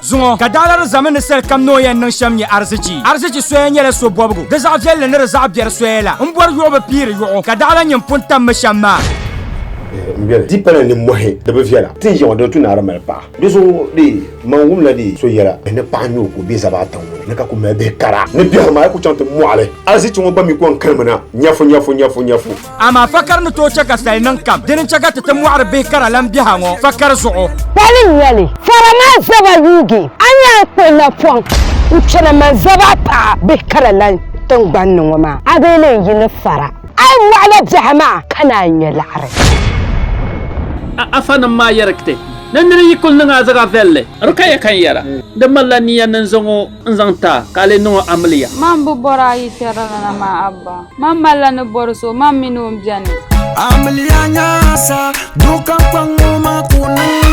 Zuŋɔ ka daalari zami ni sali kam ni o yɛn niŋ shɛm nyɛ arzichi. Arzichi soya nyɛla so bɔbigu, di zaɣ viɛlli ni di zaɣ biɛri soya la. M bɔri yuɣu bi piiri yuɣu, ka daɣila nyini pun tam mi shɛm maa. M bɛli di pala ni mɔhi di bi viɛla, tin yaŋɔ dini tu naara mali paɣa. Di zuɣu dee, man wumla dee so yɛla bɛ ni paɣa nyoo ka o be Zabaata ŋɔ ni ka ku mali bihi kara ni biɛhiri maa yi ku chaŋ ti mɔɣili. Arzichi ŋɔ gba mi ku n kirimi na, nyafu nyafu nyafu nyafu. Amaa fakari ni tooi chɛ ka sali niŋ kam. Dini n-chɛ ka ti ti mɔɣiri bihi kara lan biɛha ŋɔ fakari zuɣu. Pali noli, fara maa zaba yuugi, a ni yɛn kpuɣi napɔŋ n-chana mani zaba paɣi bihi kara lan tiŋgbani ni ŋɔ maa, a bee leen yi ni fara, a yi mɔɣila biɛha maa ka naan nya laɣiri. A afanim maa yɛri kte ni nir yi kul niŋ a zaɣ viɛlli. Rukaya kan yɛra, Di malila niya ni n zaŋ o. n zaŋ ti a ka a lee niŋ o amiliya. Mam bi bɔri a yi kpɛrili ni na maa Abba. Mam malila ni bɔri so, mam min o m-beni. Amiliya nyaasa, duɣu kam kpaŋ ŋɔ ma ku niŋ.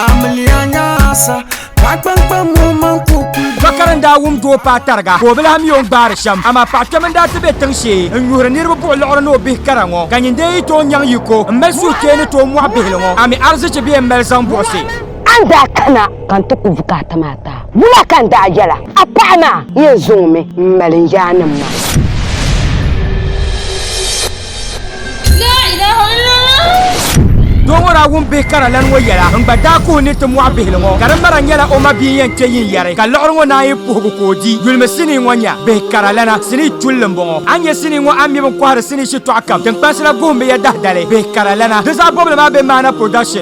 Amiliya nyaasa, paɣa kpaŋ kpaŋ ŋɔ ma ku kuli duŋ. Bakari n daa wum doo paai tariga ka o bi lahi mi o ni gbaari shɛm. Amaa paɣa kpɛm n daa ti be tiŋ shee n nyuhiri niriba buɣi liɣiri ni o bihi kara ŋɔ, ka nyin dee yi tooi nyaŋ yiko m mali suhukpeeni tooi mɔɣi bihili ŋɔ, ami arzichi bee m mali zaŋ buɣisi. A ni daa kana ka n ti ku bukaata maa ta, wula ka n daa yɛla? A paɣa maa n yɛn zaŋ mi m-mali n yaannim maa. Doo ŋɔ daa wum bihi kara lani ŋɔ yɛla n-gba daa kuhi ni ti mɔɣi bihili ŋɔ ka di mara nyɛla o ma bia n-yɛn kpe yin yɛri ka liɣiri ŋɔ naan yi puhigu ka o di. Yulimi sinii ŋɔ nya, Bihi kara lana sinii chulli m-bɔŋɔ. A ni nya sinii ŋɔ a mi bɛ ni kɔhiri sinii shitɔɣu kam tiŋkpansi la guhimmiya dahidali. Bihi kara lana di zaɣ bɔbili maa be Maana Production.